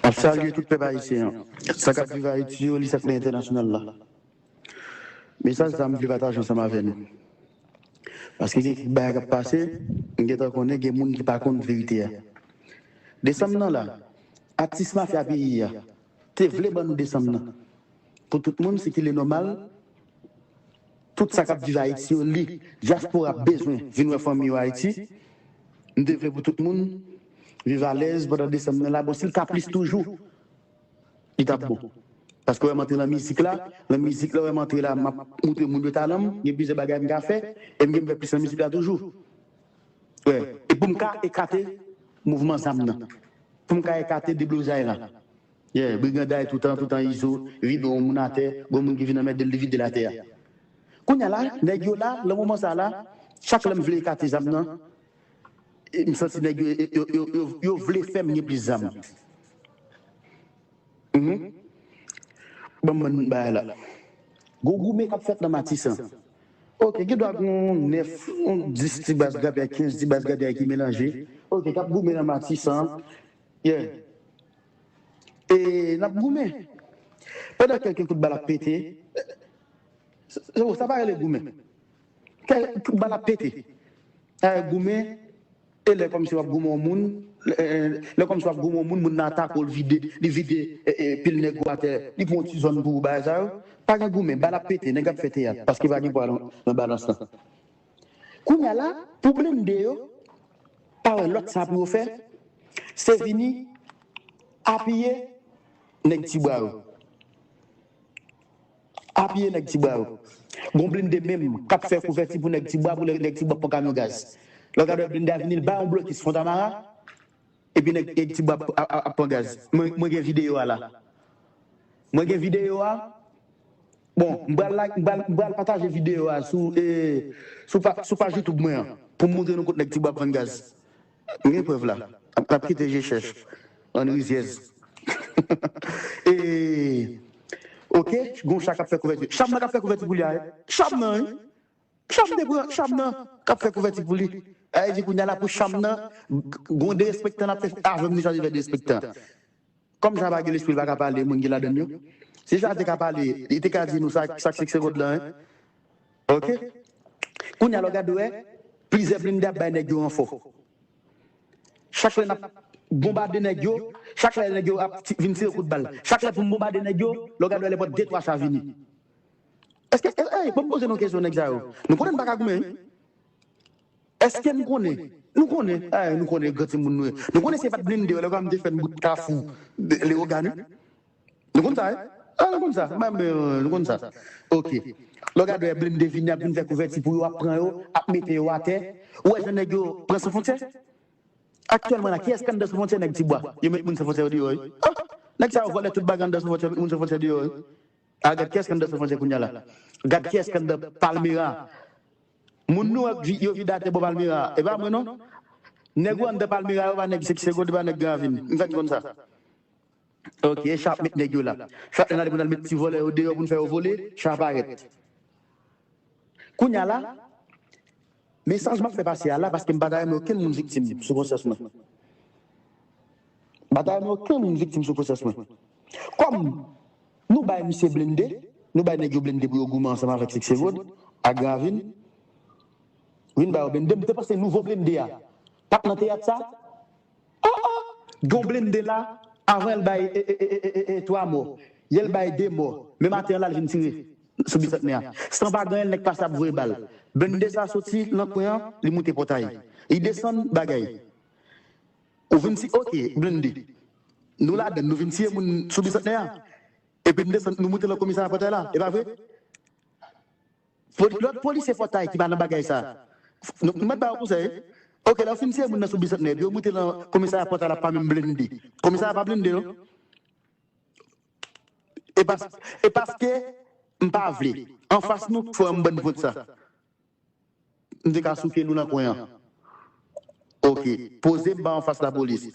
Map salye tout pèp ayisyen an, sa kap viv Ayiti yo li sa k nan entènasyonal la. Mesaj sa m vle pataje ansanm avè nou. Paske gen kèk bagay kap pase, m gentan konnen gen moun ki pa konn verite a. Desanm nan la, atis mafya peyi a, Te vle ban nou desanm nan. Pou tout moun si ki le nomal tout sa kap viv ayiti yo li diaspora bezwen vin wè fanmi yo ayiti m te vle pou tout moun viv alèz pandan desanm nan la bon sil ka plis toujou li tap bon paske wè m antre nan mizik la nan mizik la wè m antre la map moutre moun yo talan m gen plizyè bagay m ka fè e m gen m fè plis nan mizik la toujou. Wi, e pou m ka ekate mouvman zam nan. Pou m ka ekate deblozay la. Ye, briganday toutan, toutan Izo vide yon moun atè, gon moun ki vin anmède l, li vide l atè a. Kounye a la, nèg yo la, lan moman sa a la, chak lè m vle ekate zam nan, m santi nèg yo, yo, yo, yo vle fè m gen plis zam. Banm bann bagay la. Gon goumen kap fèt nan matisan. Ok gen dwa gon 9 on 10 ti baz grapyay 15 ti baz grapyay ki melanje ok kap goumen nan matisan yeah e nap goumen pandan kelke kout bal ap pete sa pa rele goumen kelke kout bal ap pete sa rele goumen E lè kòmsi wap goumen yon moun lè kòmsi wap goumen yon moun moun nan atake w li vide li vide pil nèg ou atè li pran yon ti zòn pou ou bagay sa yo pa gen goumen bal ap pete nèg ap fè teyat paske pa gen pwa nan balans lan kounya la pou blende yo pa wè lòt sa pou yo fè se vini apiye nèg ti bwa yo. Apiye nèg ti bwa yo. Gon blinde menm kap fè kouvèti pou nèg ti bwa pou lè nèg ti bwa pran kamyon gaz. Lè w gade wè blinde a vini l bay yon blokis fontamara epi nèg ti bwa ap pran gaz. Mwen gen videyo a la. Mwen gen videyo a. Bon m pral la m pral pataje videyo a sou sou paj youtube mwen an pou m montre nou kot nèg ti bwa ap vann gaz. Nou gen prèv la. Nap kite je chèch. Bann rizyèz. E ok gon cha kap fè kouvèti. Cham nan kap fè kouvèti pou li a wi. Cham nan wi. Cham te pran cham nan kap fè kouvèti pou li. Sa vle di kounya la pou cham nan gon derespektan lap fè avèm li sa li fè derespektan. Kòm sa pa gen lespri l pa ka pale moun ki ladan l yo. Si sa te ka pale li te ka di nou sa k fikse kòd lan an. Ok. Kounya la w gad wè plizyè blinde ap bay nèg yo ranfò. Chak lè n ap bonbade nèg yo, chak lè nèg yo ap vin tire kout bal, chak lè pou m bonbade nèg yo, lè w gad wè lè pòt de twa cha vini. Èske, èske, èy, bon m poze nou kesyon nèg sa yo. Nou konnen n pa ka goumen wi. Eske n konnen? Nou konnen, eh nou konnen gran timoun nou ye. Nou konnen se pa t blende yo lè Granm te fè n bout kafou Lewogàn wi. Nou konn sa wi. Ah nou konn sa. Mwen menm nou konn sa. Ok. Lè w gade blende vini ap vin fè kouvèti pou yo ap pran yo, ap mete yo atè. Ou wè jan nèg yo pran San Fontyè? Aktyèlman la kiyès k anndan San Fontyè nèg Tibwa? Yo met moun San Fontyè yo deyò wi. Ah! Nèg sa yo vòlè tout bagay anndan San Fontyè yo met moun San Fontyè deyò wi. Ah gad kiyès k anndan San Fontyè kounya la. Gad kiyès k anndan Palmera. Moun nou wè k yo vide atè bò palmira a e pa mwen non nèg ou anndan palmira yo pa nèg seksego yo pa nèg gran ravin m fèt konn sa ok e chat met nèg yo la chat lè n ale pou n al met ti vòlè yo deyò pou n fè yo vole chat parèt kounya la mesaj m ap fè pase a la paske m pa ta renmen okenn moun viktim sou konsyans mwen m pa ta renmen okenn moun viktim sou konsyans mwen kòm Nou bay misye blende, nou bay nèg yo blende pou yo goumen ansanm avèk Sikse Rod ak Gravin. Vin ba yo blende, m te panse nouvo blende a t ap nan teyat sa? Oh oh! Gen yon blende la, avan el bay 3 mò, yè l bay 2 mò, men maten an la l vin tire sou Bisantnè a. San pa ganyen l nèg pase ap voye bal. Blende sa soti nan kwen an, li moute pòtay. Li desann bagay. Ou vin ti ok blende Nou ladann nou vin tiye moun sou bisantnè a epi nou desann nou moute lan komisarya pòtay la epa vre lòt polisye pòtay ki pa nan bagay sa nou mèt ba yo konsèy ok lè yo fin tiye moun nan sou bisantnè epi yo moute lan komisarya pòtay la pa menm blende komisarya pa blende non epaske m pa vle anfas nou fò yon bann vòt sa. M te ka souke nou nan kwen an. Ok. Poze m ba anfas lapolis.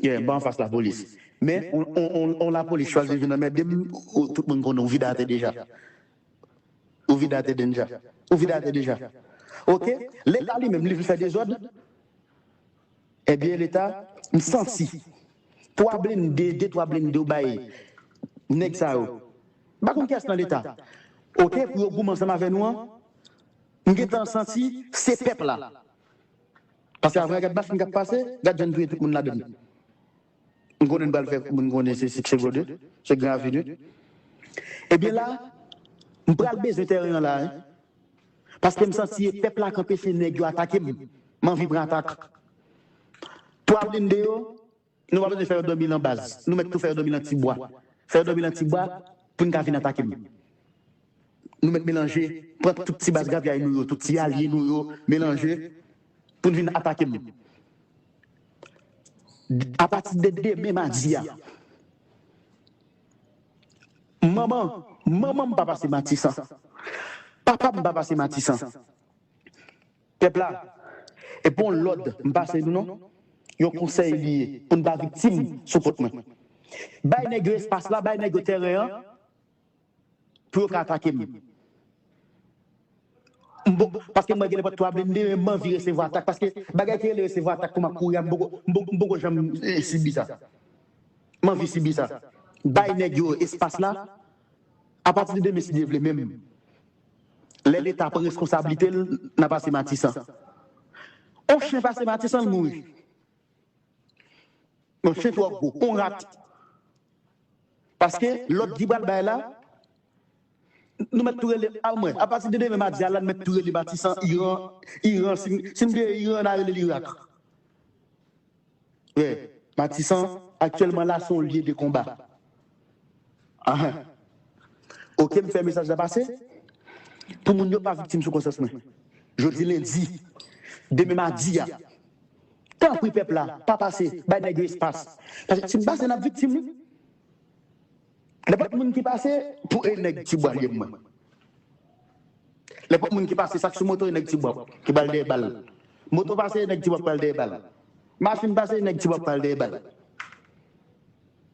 Yeah, ba anfas lapolis. Men, on lapolis chwazi vin anmède m, tout moun konnen ou vide atè deja. Ou vide atè dennja. Ou vide atè deja. Ok. Leta li menm, li vle fè dezòd. Ebyen leta m santi 3 blende de 3 blende yo bay nèg sa yo m pa konn kiyès nan leta ok pou yo goumen ansanm avè nou an m gentan santi se pèp la paske avè gad machinn kap pase gad jan n touye tout moun ladann M konnen n pral fè moun konnen se Six Seconde, se Grand Avenue. Ebyen la, m pral bezwen tèren an la wi. Paske m santi e pèp la k anpeche nèg yo atake m. M anvi pran atak. Twa blinde yo, nou pa bezwen fè yo dòmi lan baz. Nou mèt tou fè yo dòmi lan ti bwa. Fè yo dòmi lan ti bwa pou n ka vin atake m. Nou mèt melanje, pran tout ti baz grapyay nou yo, tout ti alye nou yo, melanje pou n vin atake m. Apati de demen madi a, manman manman m pa pase Matisan, papa m pa pase Matisan. Pèp la, e pa yon lòd m pase nou non, yon konsèy li ye pou n pa viktim sou kont mwen. Bay nèg yo espas la, bay nèg yo tèren an. pou yo ka atake m. M poko, paske mwen gen nenpòt 3 blende men m anvi resevwa atak paske bagay ki rele resevwa atak kou m ap kouri a m poko, m poko janm sibi sa. M anvi sibi sa. Bay nèg yo espas la, apati de demen si Dye vle men lè leta pran reskonsablite l n a pase matisan. On chen pase matisan l mouri. On chen twò gwo, on rat Paske lòd ki pral bay la, nou mèt tou rele a mwen. Apati de demen madi a la, nou mèt tou rele Matisan, Iran, Iran, si nou te ye Iran, na rele l Irak. Wè, Matisan, aktyèlman la, se yon lye de konba. Anh. Oke, m fè mesaj la pase, pou moun yo pa viktim sou konsyans mwen. Jodi lendi, demen madi a. Tanpri pèp la pa pase bay nèg yo espas paske si n pase nap viktim wi lèpòt moun ki pase pou e nèg ti bwa lyèm mwen lèpòt moun ki pase sak sou moto e nèg ti bwa ki pral dèyè bal moto pase e nèg ti bwa pral dèyè bal machin pase e nèg ti bwa pral dèyè bal.